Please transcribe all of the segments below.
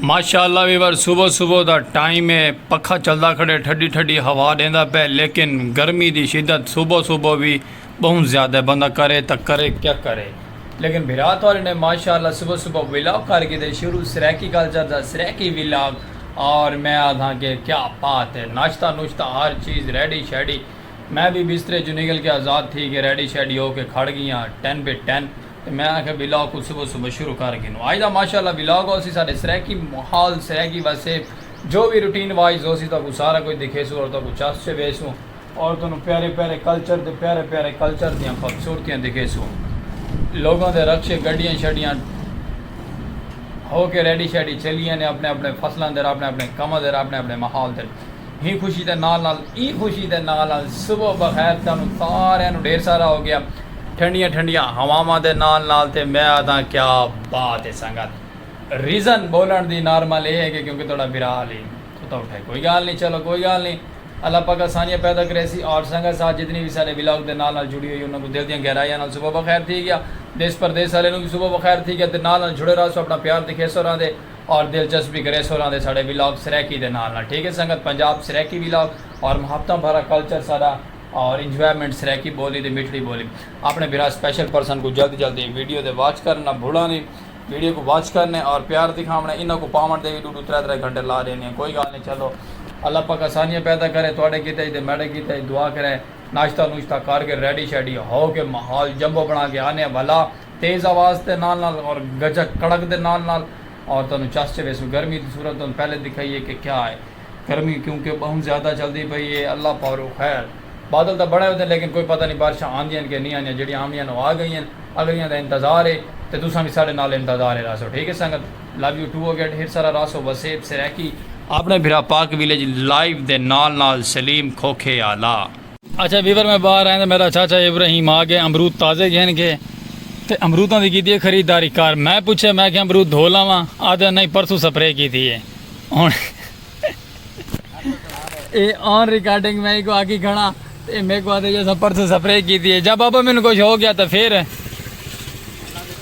ماشاء اللہ ویور صبح صبح دا ٹائم ہے پکھا چلدا کھڑے ٹھڈی ٹھڈی ہوا ڈیندا پہ لیکن گرمی دی شدت صبح صبح بھی بہت زیادہ بندہ کرے تا کرے کیا کرے لیکن بھرا تھوڑے نے ماشاء اللہ صبح صبح ولاگ کر کے دے شروع سریکی کلچر دا سریکی ولاگ اور میں آدھاں کہ کیا بات ہے ناشتہ نوشتہ ہر چیز ریڈی شیڈی میں وی بسترے چوں نگل کے آزاد تھی کے ریڈی شیڈی ہو کے کھڑ گیاں ٹن بے ٹن تے میں آکھیا ولاگ کوں صبح صبح شروع کر گھنوں اج دا ماشاء اللہ ولاگ ہوسی ساڈے سرائیکی ماحول سرائیکی وسیب جو وی روٹین وائز ہوسی تہاکوں سارا کجھ دکھیسوں اور تہاکوں چس چ ویسوں اور تہانوں پیارے پیارے کلچر تے پیارے پیارے کلچر دیاں خوبصورتیاں دکھیسوں لوگاں دے رکشے گڈیاں شڈیاں ہو کے ریڈی شیڈی چلی یانے اپنے اپنے فصلاں دے اپنے اپنے کماں دے اپنے اپنے ماحول دے ہیں خوشی دے نال نال ایں خوشی دے نال نال صبح بخیر تہانوں ساریاں نوں ڈھیر سارا ہو گیا ٹھنڈیاں ٹھنڈیاں ہواواں دے نال نال تے میں آدھاں کیا بات ہے سنگت ریزن بولن دی نارمل اے ہے کہ کیونکہ تہاڈا بھرا علی ستا اٹھے کوئی گال نی چلو کوئی گال نی اللہ پاک آسانیاں پیدا کریسی اور سنگت ساتھ جتنی وی ساڈے ولاگ دے نال نال جڑی ہوئی انہاں کوں دل دیاں گہرائیاں نال صبح بخیر تھی گیا دیس پردیس آلے نوں وی صبح بخیر تھی گیا تے نال نال جڑے رہسو اپنا پیار دکھیسو راہندے اور دلچسپی گریسو رہندے ساڈے ولاگ سرائیکی دے نال نال ٹھیک ہے سنگت پنجاب سرائیکی ولاگ اور محبتاں بھرا کلچر ساڈا اور انجوائمنٹ سرائیکی بولی دی مٹھڑی بولی اپنے بھرا سپیشل پرسن کوں جلد جلد دی ویڈیو دے واچ کرن نہ بھولاں دی ویڈیو کوں واچ کرنے اور پیار دکھاونے انہاں کوں پاون دے وی ڈو ڈو ترے ترے گھنٹے لا ڈینے کوئی گال نہیں چلو اللہ پاک آسانیاں پیدا کرے تواڈے کیتے ہی تے میڈے کیتے ہی دعا کرے ناشتہ نوشتہ کر کے ریڈی شیڈی ہو کے ماحول جمبو بنا کے آنے بھلا تیز آواز تے نال نال اور گجک کڑک دے نال نال اور تانوں چس چویسوں گرمی دی صورت تانوں پہلے دکھائیے کہ کیا ہے گرمی کیونکہ بہوں زیادہ چلدی پئی ہے اللہ پاروں خیر بادل تاں بنے ہوندے لیکن کوئی پتہ نی بارشاں آندیاں کہ نی آندیاں جیڑھیاں آونیاں او آ گئیاں اگلیاں دا انتظار ہے تے تساں وی ساڈے نال انتظار ہے رہسو ٹھیک ہے سنگت لو یو ٹو اگیٹ ہیر سارا رہسو وسیب سرائیکی اپنے بھرا پاک ویلیج لائیو دے نال نال سلیم کھوکھے آلا۔ اچھا ویور میں باہر آئیں تے میڈا چاچا ابراہیم آ گئے امرود تازے گھن گئے تے امروداں دی کیتی ہے خریداری کر میں پچھے میں کہ امرود دھو لاواں آدھے نہیں پرسوں سپرے کیتی ہے ہن اے آن ریکارڈنگ میں کو آکی کھڑا تے میکو آدھے جیسا پرسوں سپرے کیتی ہے جب ابا مینوں کچھ ہو گیا تے پھر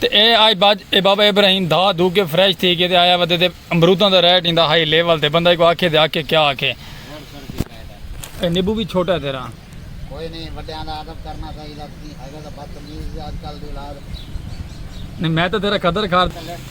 تے اے آئی بعد اے بابا ابراہیم دھا دھو کے فریش تھی کے تے آیا ودے تے امروداں دا ریٹ ایندا ہائی لیول تے بندہ ایکوں آکھے تے آکھے کیا آکھے۔ اے نیبو وی چھوٹا ہے تیرا۔ کوئی نئیں وڈیاں دا ادب کرنا چاہیدا تسیں ہیگے تاں بدتمیز جے اج کل دی اولاد۔ نئیں میں تاں تیرا قدر کر۔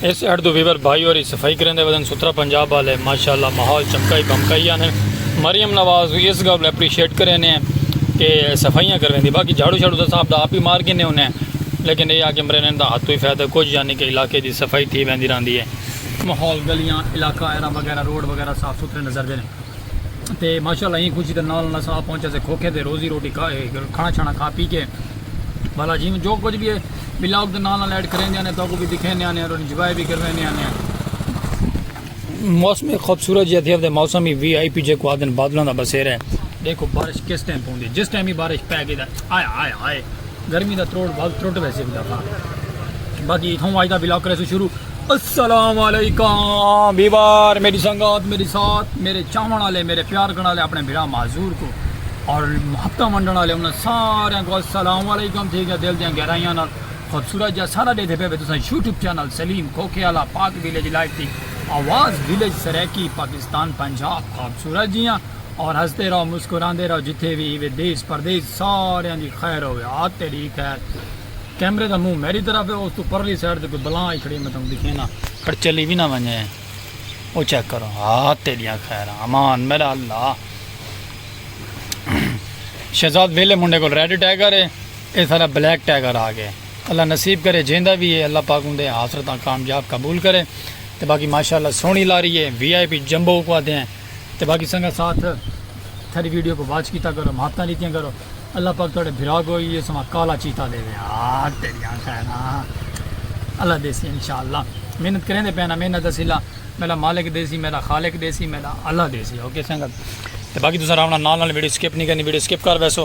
اس ایڈ دو ویور بھائی اور صفائی کریں دے وزن سترہ پنجاب والے ماشاءاللہ ماحول چمکائی بمکائی آنے مریم نواز بھی اس گھر اپریشیٹ کریں نے کہ صفائیاں کریں دی باقی جھاڑو جھاڑو دا صاحب دا آپ ہی مار گنے انہیں لیکن یہ آگے مرے نے دا ہاتھو ہی فیدہ کچھ یعنی کہ علاقے دی صفائی تھی بہن دی رہن دی ہے ماحول گلیاں علاقہ ایرہ وغیرہ روڈ وغیرہ صاف سترے نظر دے نے تے ماشاءاللہ ایں خوشی دے نال نال اساں آ پہنچے سے کھوکھے تے روزی روٹی کھانا چھانا کھا پی کے والا جی میں جو کچھ بھی ہے بلاگ دے نال نال ایڈ کریندے آنے تو کو بھی دکھیندے آنے اور انجوائے بھی کرویندے آنے موسم خوبصورت جی تھی تے موسم ہی وی آئی پی جے کو آدن بادلاں دا بسیر ہے دیکھو بارش کس ٹائم پوندی جس ٹائم ہی بارش پے گئی آیا آیا آئے گرمی دا تروڑ بھاگ تروٹ ویسے بھی دفعہ باقی ہوں آج دا بلاک کرے سو شروع السلام علیکم بیوار میری سنگات میری ساتھ میرے چاون والے میرے پیار کرنے والے اپنے بھرا معذور کو اور محبتہ منڈن والے انہاں سارے کو السلام علیکم تھی گیا دل دیاں گہرائیاں نال خوبصورت جا سارا دے دے پہ تساں یوٹیوب چینل سلیم کھوکھے والا پاک ویلیج لائف دی آواز ویلیج سرائیکی پاکستان پنجاب خوبصورت جیاں اور ہستے رہو مسکراندے رہو جتھے وی ہیوے دیس پردیس ساریاں دی خیر ہووے آ تیڈی خیر کیمرے دا منہ میڈی طرف ہے اوتوں پرلی سائیڈ تے کوئی بلا آئی کھڑی ہے میں تہاکوں دکھینا کھڑ چلی وی نہ ونجے او چیک کرو آ تیڈیاں خیراں امان میڈا اللہ شہزاد ویلے منڈے کول ریڈ ٹائیگر ہے اے سارا بلیک ٹائیگر آ گئے اللہ نصیب کرے جیندا وی ہے اللہ پاک اوندے حاصلتاں کامیاب قبول کرے تے باقی ماشاءاللہ سونی لاری ہے وی آئی پی جمبو کو آدھے ہیں تے باقی سنگت ساتھ تھری ویڈیو کو واچ کیتا کرو محبتاں لیتیاں کرو اللہ پاک تھوڑے بھرا کو یہ سما کالا چیتا دے دے آہ تیری آنکھ ہے نا اللہ دے سی انشاءاللہ محنت کریں دے پینا محنت اسیلا میرا مالک دے سی میرا خالق دے سی میرا اللہ دے سی اوکے سنگت تے باقی تساں راونا نال نال ویڈیو سکپ نہیں کرنی ویڈیو سکپ کر ویسو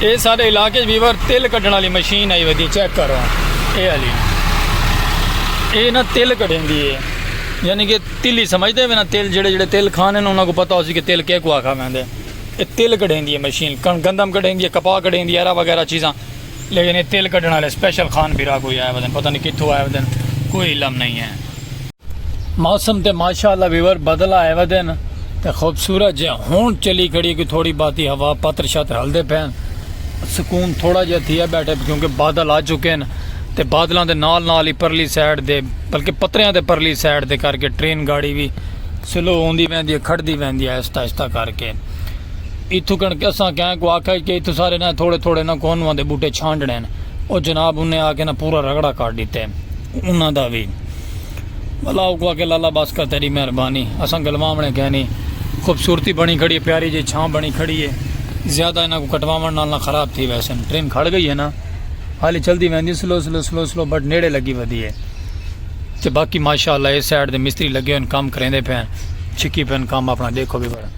اے ساڈے علاقے اچ ویور تل کڈھنڑ آلی مشین آئی ودی چیک کرو اے آلی اے نا تل کڈھیندی اے یعنی کہ تلی سمجھدے وے نا تل جڑے جڑے تل کھانے انہاں کو پتہ ہوسی کہ تل کے کو آکھا ویندے اے تل کڈھیندی اے مشین کن گندم کڈھیندی اے کپاہ کڈھیندی اے وغیرہ چیزاں لیکن اے تل کڈھن آلے سپیشل خان بھرا کوئی آئے ودن پتہ نہیں کتھوں آئے ودن کوئی علم نہیں اے۔ موسم تے ماشاء اللہ ویور بدل آئے ودن تے خوبصورت جے ہون چلی کھڑی کہ تھوڑی باتی ہوا پتر شتر ہل دے پین سکون تھوڑا جے تھیا بیٹھے کیونکہ بادل آ چکے ہیں تے بادلان دے نال نال ہی پرلی سیڈ دے بلکہ پتریاں دے پرلی سیڈ دے کر کے ٹرین گاڑی بھی سلو ہوں دی وین دی ہے کھڑ دی وین دی ہے اس تاشتہ کر کے اتھو کنکہ اساں کہیں کو آکھا ہے کہ اتھو سارے نہ تھوڑے تھوڑے نہ کونوان دے بوٹے چھانڈنے ہیں او جناب انہیں آکھے نہ پورا رگڑا کر دیتے ہیں انہوں دا بھی اللہ اوکوں آکھے لالا بس کر تیری مہربانی اساں گلواونے کہیں نہیں خوبصورتی بنی کھڑی ہے پیاری جی چھاں بنی کھڑی ہے زیادہ انہاں کو کٹواون نال نہ خراب تھی ویسے ٹرین کھڑ گئی ہے نا حالی چلدی ویندی سلو سلو سلو سلو بٹ نیڑے لگی ودی ہے تے باقی ماشاءاللہ اس سائیڈ دے مستری لگے ہوئے کام کریندے پے چھکی پے کام اپنا دیکھو بھی بڑا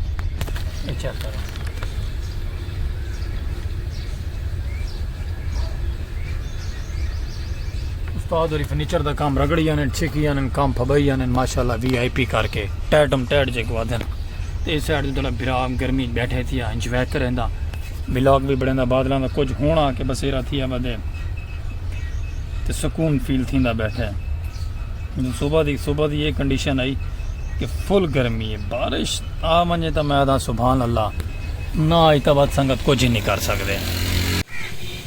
اچھا کرو استاد ہوری فرنیچر دا کام رگڑی آنن چھکی آنن کام پھبائی آنن ماشاءاللہ وی آئی پی کر کے ٹیڈم ٹیڈ جے کو آدھن تے اس سائڈ دے برا گرمی بیٹھے تھیا انجوائے کریں دا ولاگ بھی بڑھیں دا بادلاں دا کچھ ہونا کہ بسیرا تھیا بدے تے سکون فیل تھیں دا بیٹھے صبح دی صبح دی یہ کنڈیشن آئی کہ فل گرمی ہے بارش آ منجے تا میں دا سبحان اللہ نہ آئی تا بات سنگت کچھ ہی نہیں کر سکتے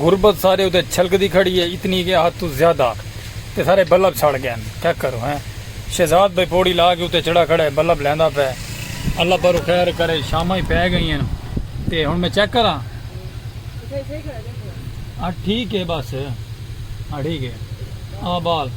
غربت سارے اتے چھلکدی کھڑی ہے اتنی کہ حد توں زیادہ تے سارے بلب سڑ گئن کیا کروں ہیں شہزاد بھائی پوڑی لا کے اتے چڑھا کھڑا ہے بلب لیندا پئے اللہ پرو خیر کرے شاماں ہی پے گئی ہیں تے ہن میں چیک کراں ہاں ٹھیک ہے بس ہاں ٹھیک ہے آ بال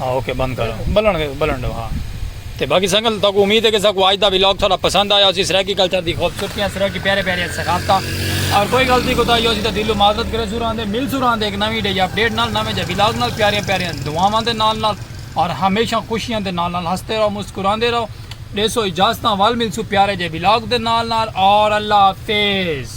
ہاں اوکے بند کر بلن گے بلن دو ہاں تے باقی سنگل تو کو امید ہے کہ سا کو آج دا ویلاگ تھوڑا پسند آیا اسی سرائیکی کلچر دی خوبصورتیاں سرائیکی پیارے پیارے سخافتہ اور کوئی غلطی کو تائی اسی تے دلو معذرت کرے سوران دے مل سوران دے ایک نوی ڈے یا اپڈیٹ نال نوے جے ویلاگ نال پیارے پیارے دعاواں دے نال نال اور ہمیشہ خوشیاں دے نال نال ہستے رہو مسکران دے رہو ڈیسو اجازتاں وال ملسو پیارے جے ویلاگ دے نال نال اور اللہ حافظ